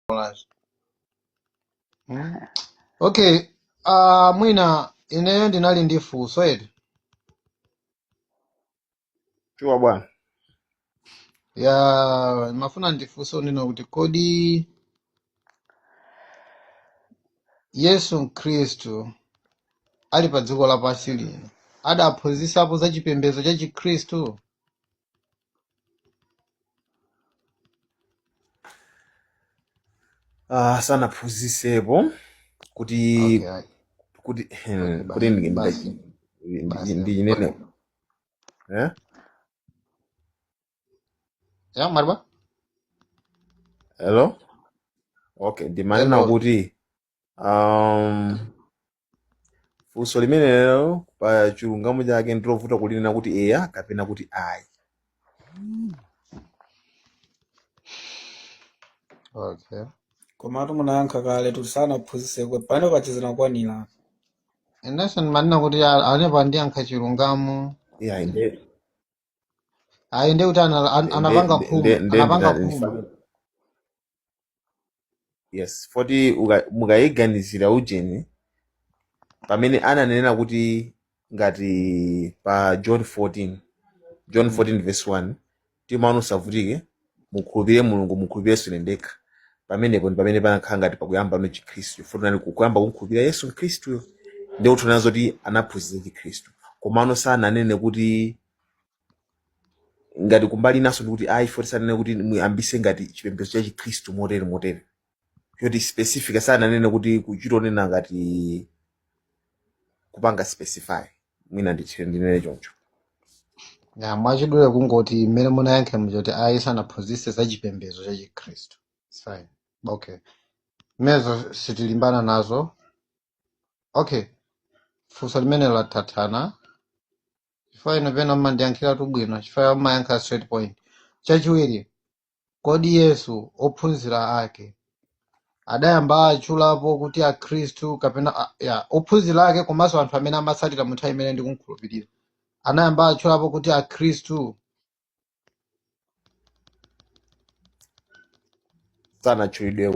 bwanji mm. okay uh, mwina ineyo ndinali ndi funso eti shuwa bwana ya ndimafuna ndifunse unena kuti kodi yesu khristu ali pa dziko lapansi lino adaphunzisapo za chipembedzo cha chikhristu Ah, sanaphunzisepo kuti okay ayi kuti okay kuti basi ndi- basi ndi- ndi- basi ndi- ndinene eh? ya marba hello okay ndimanena hello kuti Um, funso limenelo pa chilungamo chake ndilovuta kulinena kuti eya kapena kuti ayi. okay komatu munayankha kale kuti sanaphunzitse pamenepo pachizina kwanira inenso ndimanena kuti apapo andiyankha chilungamo Yeah, inde. ayi ndiye kuti ana- an- nde nde anapanga nde khuma nde nde anapanga ndina- khuma ndifana yes foti uka- mukayiganizira ujeni pamene ananena kuti ngati pa john 14 john Mm, 14 verse 1 timaona usavutike mukhulupirire mulungu mukhulupirirenso ine ndekha pamenepo ndi pamene panakhala ngati pakuyambano chikhristu chifukwa kunali kuyamba kumkhulupirira yesu mkhristuyo ndiye kutanthauza zoti anaphunzitsa chikhristu komano sananene kuti ngati kumbali inanso ndikuti ayi foti sananene kuti muyambise ngati chipembedzo cha chikhristu motere motere choti specific sananene kuti kuchita kunena ngati kupanga specify mwina ndinene choncho ya mwachidule kungoti mmene munayankhiramu choti ayi sanaphunzitse za chipembedzo cha chikhristu zimenezo sitilimbana nazo okay funso limenelo tathana chifukwa inu pena mmandiyankhiratu bwino chifukwa mmayankha straight point chachiwiri Kodi Yesu, ophunzira ake adayamba atchulapo kuti Akhristu kapena a- ya ophunzira ake komanso anthu amene amamutsatira mu nthawi imeneyo ndikumkhulupirira anayamba atchulapo kuti Akhristu? sanatchulidwe